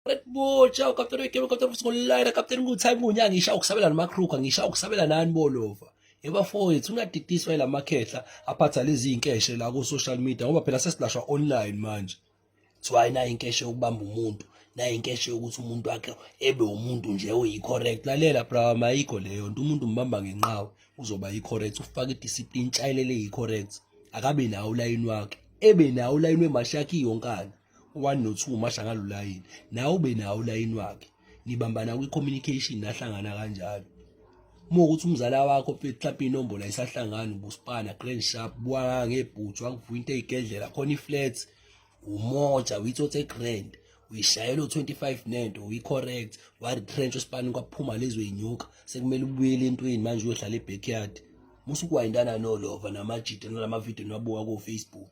Red Bull, ciao Captain Wekelo, Captain Mskolina, Captain Nguthai Munya, ngisha ukusabela namakhruka, ngisha ukusabela nani bolova. Ebafowethu ungadidiswa ilamakhehla aphatha lezi inkeshe la ku social media ngoba phela sesilashwa online manje. Kuthiwa nayo inkeshe yokubamba umuntu, nayo inkeshe yokuthi umuntu wakhe ebe umuntu nje oyi-correct. Lalela bra, mayikho leyo nto, umuntu umbamba ngenqawe uzoba yi-correct, ufake i-discipline, tshayelele yi-correct. Akabe nawo ulayini wakhe, ebe nawo ulayini wemashakhi yonkana. one no two umasha ngalo layini nawe ube nawo ulayini wakhe nibambana kwi-communication nahlangana kanjalo uma ukuthi umzala wakho mhlawumpe inombolo ayisahlangani ubusipana grand sharp buwanga ngebhuthu wangivuyinto eyigedlela khona i-flats umoja uyithothe grand uyishayela u-25 nento uyi-correct wa-retrench usipani kwaphuma lezo yinyuka sekumele ubuyele entweni manje uyohlala e-backyard musukuwayintana nolova namajita nalamavidiyo niwabuka ko-facebook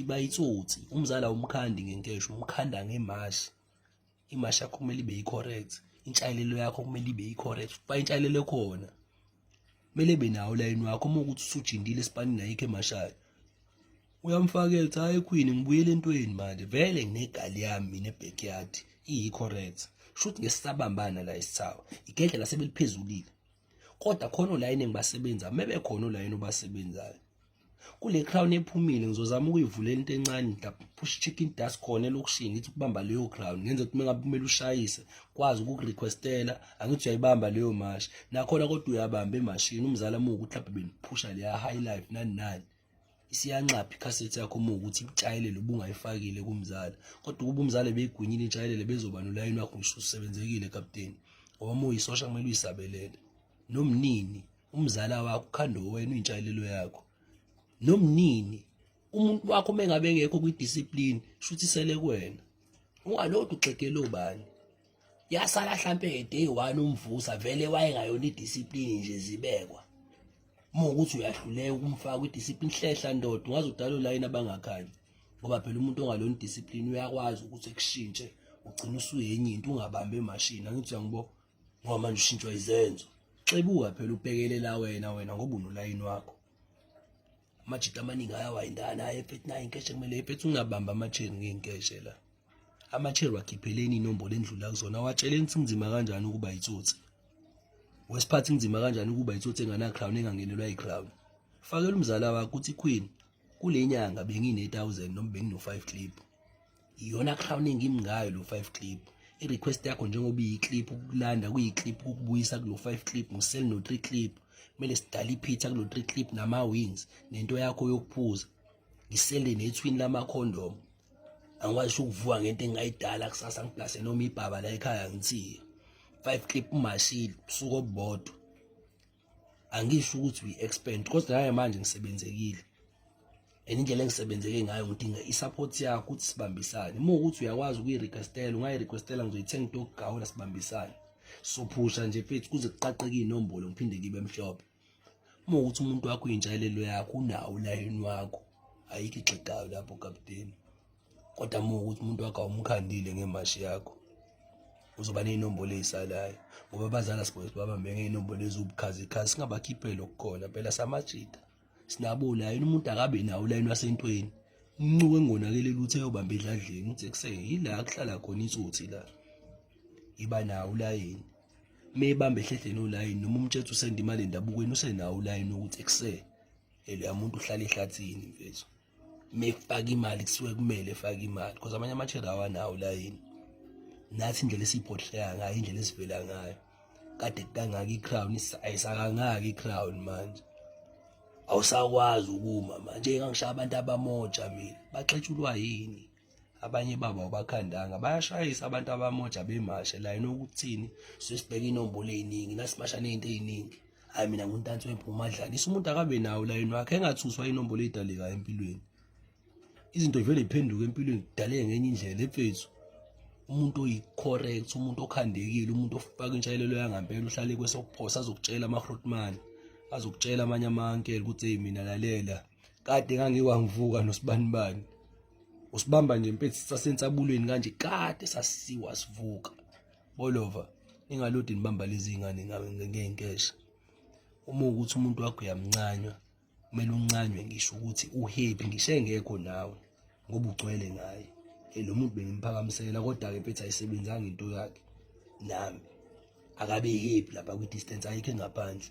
iba itsotsi umzala umkhandi ngenkesho umkhanda ngemashi imashi yakho kumele ibe yi-correct intshalelo yakho kumele ibe yi-correct uba intshalelo ekhona kumele ebe nawo ulayini wakho uma ukuthi usujindile esipanini ayikho emashayo uyamfaka ethi hayi ekhwini ngibuyele entweni manje vele nginegali yami mina ebackyard iyi-correct shuthi ngesisabambana la isithawa igedle lasebeliphezulile kodwa khona olayini engibasebenza uma bekhona olayini obasebenzayo kule crown ephumile ngizozama ukuyivulela into encane push chicken dust khona elokishini ngithi ukubamba leyo crown ngenze ukuthi mengabe kumele ushayise kwazi ukukurequestela angithi uyayibamba leyo mashi nakhona kodwa uyabamba emashini umzala muku mhlawumbe beniphusha leya high life nani nani isiyanxapha ikhasethi yakho uma ukuthi ikutshayelele ubungayifakile kumzala kodwa ukuba umzala beyigwinyile intshayelele bezoba nolayini wakho ngisho usebenzekile kapteni ngoba uma uyisosha kumele uyisabelele nomnini umzala wakho ukhanda wena uyintshalelo yakho nomnini umuntu wakho uma engabe engekho kwi-discipline shuthi sele kuwena ungalokhu uxegele obani yasala hlampe ngeday one umvusa vele wayengayona i-discipline nje zibekwa uma ukuthi uyahluleka ukumfaka kwi-discipline hlehla ndoda ungaze udalo layini abangakhanyi ngoba phela umuntu ongalona i-discipline uyakwazi ukuthi ekushintshe ugcina usuyenye into ungabambi emashini angithi uyangibo ngoba manje ushintshwa izenzo xebuka phela ubhekelela wena wena ngoba unolayini wakho amajita amaningi ayawayindana ayephethe nayo inkeshe kumele ephethe ungabamba amacheni ngenkeshe la amacheri wakhipheleni inombolo endlula kuzona watsheleni ukuthi kunzima kanjani ukuba yitsotsi wesiphathi kunzima kanjani ukuba yitsotsi enganacrown engangenelwa yicrown fakela umzala wakho ukuthi queen kule nyanga bengine-1000 noma bengino-5 clip iyona crown engimi ngayo lo 5 clip i-request yakho njengoba iyi-clip ukulanda kuyi-clip ukubuyisa kulo 5 clip ngisel no-3 clip kumele sidale iphitha kulo 3 clip nama-wings nento yakho yokuphuza ngisele nethwini lamakhondomu angikwazi ukuvuka ngento engingayidala kusasa ngiplase noma ibhaba la ekhaya ngithiye 5 clip umashile usuku obubodwa angisho ukuthi we expand kodwa naye manje ngisebenzekile and indlela engisebenzeke ngayo ngidinga i-support yakho ukuthi sibambisane uma ukuthi uyakwazi ukuyi-requestela ungayi-requestela ngizoyithenga into yokugawula sibambisane sophusha nje mfethu kuze kuqaqeke iy'nombolo ngiphinde ngibe mhlophe uma ukuthi umuntu wakho uyinjayelelo yakho unawo ulayini wakho ayikho igxegayo lapho kapteni kodwa uma ukuthi umuntu wakho awumkhandile ngemashi yakho uzoba ney'nombolo ey'salayo ngoba abazali asibone ukuthi babambe ngey'nombolo eziwubukhazikhazi singabakhipheli okukhona phela samajita sinabo ulayini umuntu akabe nawo ulayini wasentweni umncuko engonakele lutho eyobamba edladleni uthi ekuseni yila kuhlala khona itsotsi la iba nawo ulayini uma ebamba ehlehleni olayini noma umtshetha usenda imali endabukweni usenawo ulayini ukuthi ekuseni eloya muntu uhlala ehlathini mfethu mekufaka imali kusuke kumele efake imali because amanye amachela awanawo la yini nathi indlela esiyiphotheka ngayo indlela esivela ngayo kade kangaka i-crown ayisakangaka i-crown manje awusakwazi ukuma manje ngangishaya abantu abamoja mina baxetshulwa yini abanye babo abakhandanga bayashayisa abantu abamoja bemashe la yena ukuthini sesibheka inombolo eziningi nasimasha nezinto eziningi hayi mina nguntansi wempumadlana isa umuntu akabe nawo la yena wakhe engathuswa inombolo edaleka empilweni izinto vele iphenduka empilweni kudaleke ngenye indlela efethu umuntu oyicorrect umuntu okhandekile umuntu ofaka intshalelo yangampela uhlale kwesokuphosa azokutshela ama-hrotman azokutshela amanye amankela ukuthi eyi mina lalela kade ngangiwangivuka nosibanibani usibamba nje mfethu sasensabulweni kanje kade sasiwa sivuka bolova ningalodi nibamba lezi ngane ngenkesha uma ukuthi umuntu wakho uyamncanywa kumele uncanywe ngisho ukuthi uhappy ngisho engekho nawe ngoba ugcwele ngaye lo muntu bengimphakamisela kodwa-ke mfethu ayisebenzanga into yakhe nami akabe happy lapha kwi-distance ayikho engaphandle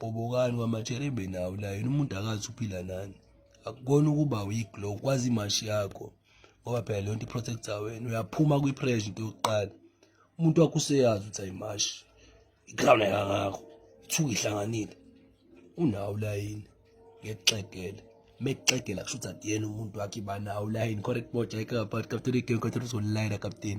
Gobokani kwamatsherebe nawo la yena umuntu akazi uphila nani akukona ukuba weak lo kwazi imashi yakho ngoba phela leyo nto i-protecta wena uyaphuma kwi-pressure into yokuqala umuntu wakho useyazi ukuthi ayimashi i-crown ayikangakho ithuka ihlanganile unawo la yini ngekuxegela mekuxegela kusho ukuthi akuyena umuntu wakhe banawo la yini correct boja ayikaphathi kapteni idingo kathela uzolayela kapteni